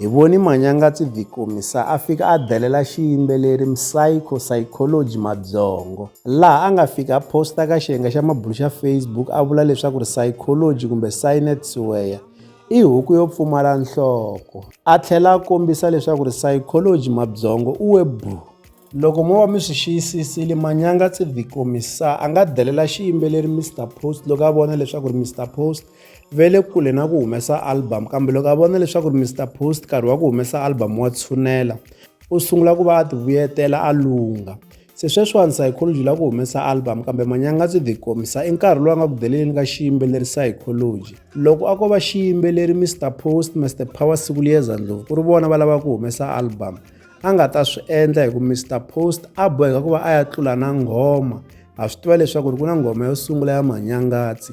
Hi voni Manyangatsi Vikomi sa a fika a delela xiyimbeleri Msayko Psychology mabyongo, laha a nga fika a posta ka xiyenge xa mabunu xa Facebook a vula leswaku ri Psychology kumbe Cynet Siweya i huku yo pfumala nhloko, a tlhela a kombisa leswaku ri Psychology mabyongo u we bwu. Loko mo va mi swi xiyisisile, Manyangatsi Vikomi sa a nga delela xiyimbeleri Mister Post loko a vona leswaku ri Mister Post ve le kule na ku humesa album kambe loko a vona leswaku ri Mister Post nkarhi wa ku humesa album wa tshunela u sungula ku va a tivuyetela a lungha se sweswiwani psychology la ku humesa album kambe manyanga byi tikomisa i nkarhi lowu a nga ku deleleni ka xiyimbeleri psychology loko a ko va xiyimbeleri Mister Post Mister Power siku liyeza ndlovu ku ri vona va lava ku humesa album a nga ta swi endla hi ku Mister Post a boheka ku va a ya tlula na nghoma ha swi tiva leswaku ri ku na nghoma yo sungula ya manyangatsi